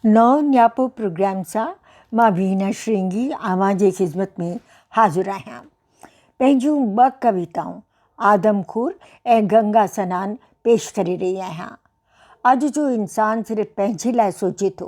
نئون نياپو پروگرام سان مان وينا شرنگي اوهان جي خدمت ۾ حاضر آهيان پنهنجون ٻه ڪويتائون آدم خور ۽ گنگا سنان پيش ڪري رهي آهيان اڄ جو انسان صرف پنهنجي لاء سوچي ٿو.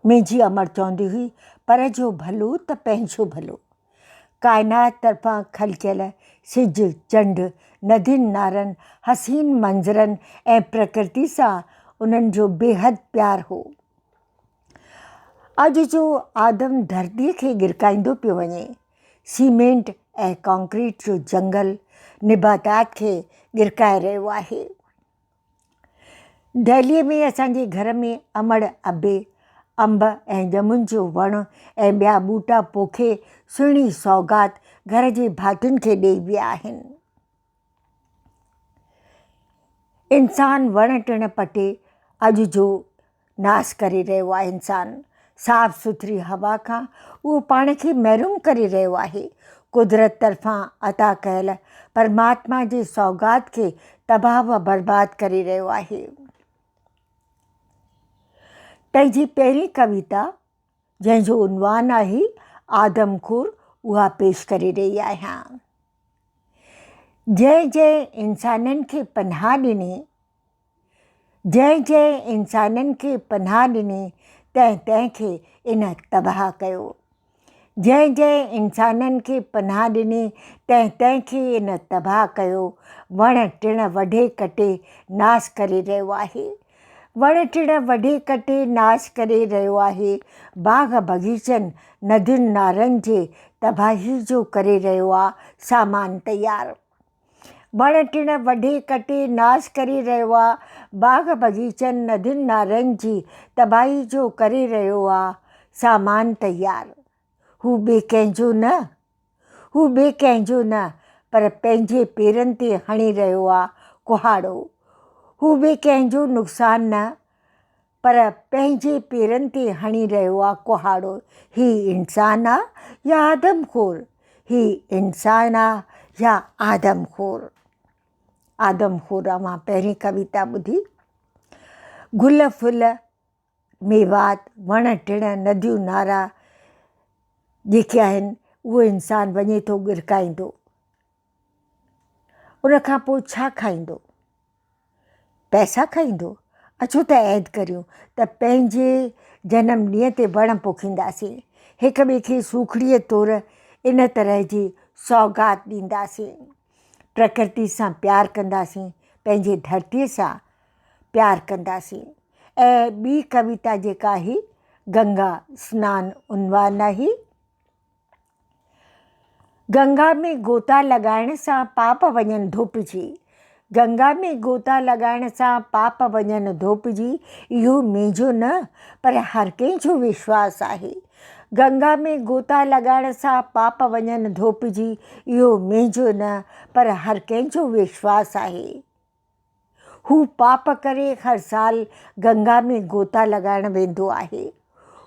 منهنجي امڙ چوندي هئي، پر جو ڀلو ته پنهنجو ڀلو. ڪائنات طرفان خلقيل سج، چنڊ، ندين نارن، حسين منظرن ۽ پرڪرتي سان انهن جو بيحد پيار هو. اڄ جو آدم ڌرتي کي ڳرڪائيندو پيو وڃي. سيمينٽ ۽ ڪانڪريٽ جو جنگل نباتات کي ڳرڪائي رهيو آهي. دهليء ۾ اسان جي گهر ۾ امڙ، ابي، انب ۽ ڄمن جو وڻ ۽ ٻيا ٻوٽا پوکي سهڻي سوغات گهر جي ڀاتين کي ڏيئي ويا آهن. انسان وڻ ٽڻ پٽي اڄ جو ناس ڪري رهيو آهي انسان صاف سٿري هوا کان اهو پاڻ کي محروم ڪري رهيو آهي قدرت طرفان عطا ڪيل پرماتما جي سوغات کي تباهه و برباد ڪري رهيو آهي پنهنجي پهرين ڪويتا جنهن جو عنوان آهي آدم خور اها پيش ڪري رهي آهيان جنهن جنهن انسانن کي پناهه ڏني جنهن جنهن انسانن کي پناهه ڏني تنهن تنهن کي ان تباهه ڪيو. جنهن جنهن انسانن کي پناهه ڏني تنهن تنهن کي ان تباهه ڪيو. وڻ ٽڻ وڍي ڪٽي ناس ڪري رهيو آهي. وڻ ٽڻ وڍي ڪٽي ناس ڪري رهيو آهي. باغ بغيچن ندين نارن جي تباهي جو ڪري رهيو آ سامان تيار. وڻ ٽڻ وڍي ڪٽي ناس ڪري رهيو آ، باغ بغيچن ندين نالن جي تباهي جو ڪري رهيو آ، سامان تيار. هو ٻي ڪنهن جو نه. هو ٻي ڪنهن جو نه پر پنهنجي پيرن تي هڻي رهيو آ ڪهاڙو. هو ٻي ڪنهن جو نقصان نه. پر پنهنجي پيرن تي هڻي رهيو آ ڪهاڙو، هي انسان آ يا آدم خور، هي انسان آ يا آدم خور. آدم خور اوهان پهرين ڪويتا ٻڌي. گل ڦل ميوات وڻ ٽڻ نديون نارا جيڪي آهن اهو انسان وڃي ٿو ڳرڪائيندو ان کان پوء ڇا کائيندو؟ پئسا کائيندو؟ اچو ته عهد ڪريون ته پنهنجي جنم ڏينهن تي وڻ پوکينداسين. هڪ ٻئي کي سوکڙيء طور ان طرح جي سوغات ڏينداسين. پرڪرتي سان پيار ڪنداسين، پنهنجي ڌرتيء سان پيار ڪنداسين. ۽ ٻي ڪويتا جيڪا هي، گنگا سنان عنوان آهي. گنگا ۾ غوطا لڳائڻ سان پاپ وڃن ڌوپجي، گنگا ۾ غوطا لڳائڻ سان پاپ وڃن ڌوپجي اهو منهنجو نه پر هر ڪنهن جو وشواس آهي، گنگا ۾ غوطا لڳائڻ سان پاپ وڃن ڌوپجي اهو منهنجو نه پر هر ڪنهن جو وشواس آهي. هو پاپ ڪري هر سال گنگا ۾ غوطا لڳائڻ ويندو آهي.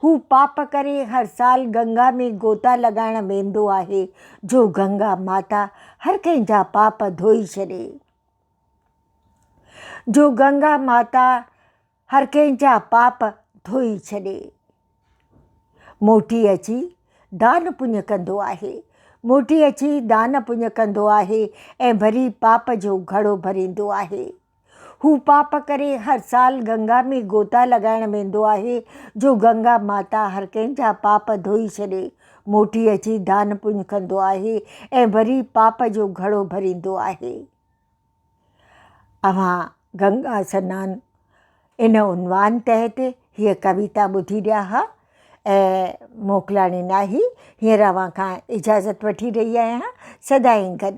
هو پاپ ڪري هر سال گنگا ۾ غوطا لڳائڻ ويندو آهي جو گنگا ماتا هر ڪنهن جا پاپ ڌوئي ڇڏي. جو گنگا ماتا هر ڪنهن جا پاپ ڌوئي ڇڏي. موٽي اچي دان پڃ ڪندو آهي. موٽي اچي دان پڃ ڪندو آهي ۽ وري پاپ جو گهڙو ڀريندو آهي. هو پاپ ڪري هر سال گنگا ۾ گوتا لڳائڻ ويندو آهي جو گنگا ماتا هر ڪنهن جا پاپ ڌوئي ڇڏي. موٽي اچي دان پڃ ڪندو آهي ۽ وري پاپ جو گهڙو ڀريندو آهي. اوهان گنگا سنان ان عنوان تحت هيء ڪويتا ٻڌي رهيا ها ۽ موڪلاڻي ناهي هينئر اوهان کان اجازت وٺي رهي آهيان. سدائين گڏ.